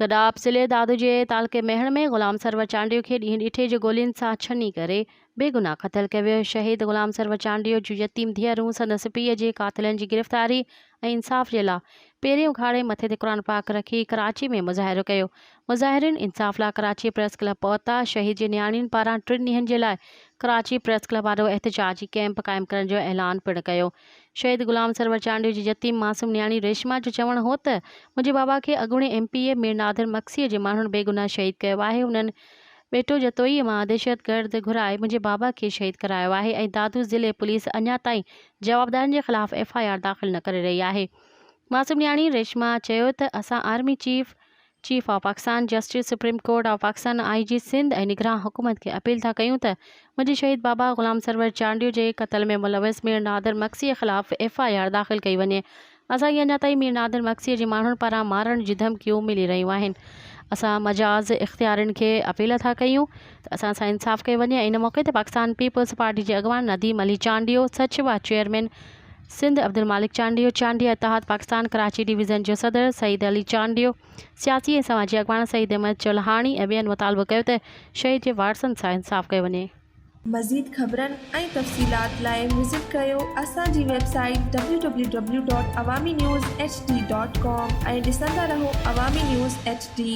گڏاپ ضلعي دادوجي تعلقي مهڻ ۾ غلام سرور چانڊيو کي ڏينهن ڏٺي جو گولين سان ڇني ڪري بي گناهه قتل ڪيو ويو شهيد غلام سرور چانڊيو جون يتيم ڌيئرون سندس پيء جي قاتلن جي گرفتاري ۽ ۽ انصاف جي لا پيرين اگهاڙي مٿي تي قرآن پاڪ رکي ڪراچي ۾ مظاهرو ڪيو مظاهرين انصاف لا ڪراچي پريس ڪلب پهتا شهيد جي نياڻين پاران ٽن ڏينهن جي لاء ڪراچي پريس ڪلب آڏو احتجاجي ڪيمپ قائم ڪرڻ جو اعلان پڻ ڪيو شهيد غلام سرور چانڊيو جي يتيم معصوم نياڻي ريشما جو چوڻ هو ته منهنجي بابا کي اڳوڻي M P A Mir Nadir مگسيء جي ماڻهن بيگناهه شهيد ڪيو آهي انهن ٻيٽو جتوئيء مان دهشتگرد گهرائي منهنجي بابا کي شهيد ڪرايو آهي ۽ دادو ضلعي پوليس اڃا تائين جوابدارن جي خلاف ايف آء آر داخل نه ڪري رهي آهي. معصوم نياڻي ريشما چيو ته اسان army chief, chief of Pakistan justice, supreme court of Pakistan, I G Sindh ۽ نگران حڪومت کي اپيل ٿا ڪيون ته منهنجي شهيد بابا غلام سرور چانڊيو جي قتل ۾ ملوث مير نادر مگسيء خلاف ايف آء آر داخل ڪئي وڃي اسان کي اڃا تائين مير نادر مگسيء جي ماڻهن پاران مارڻ جون ڌمڪيون ملي رهيون آهن. اسان مجاز اختيارين کي اپيل ٿا ڪيون ته اسان سان انصاف ڪيو وڃي ۽ ان موقعي تي پاڪستان پيپلز پارٽي جي اڳواڻ نديم علي چانڊيو، سچوا چيئرمين سنڌ عبدالمالڪ چانڊيو، چانڊيا اتحاد پاڪستان ڪراچي ڊويزن جو صدر سعيد علي چانڊيو، سياسي ۽ سماجي اڳواڻ سعيد احمد چولهاڻي ۽ ٻين مطالبو ڪيو ته شهيد جي وارثن سان انصاف ڪيو وڃي. مزيد خبرن ۽ تفصيلات لاء وزٽ ڪريو اسان جي website www.awaminews. hd. com ۽ ڏسندا رهو عوامي نيوز ايڇ ڊي.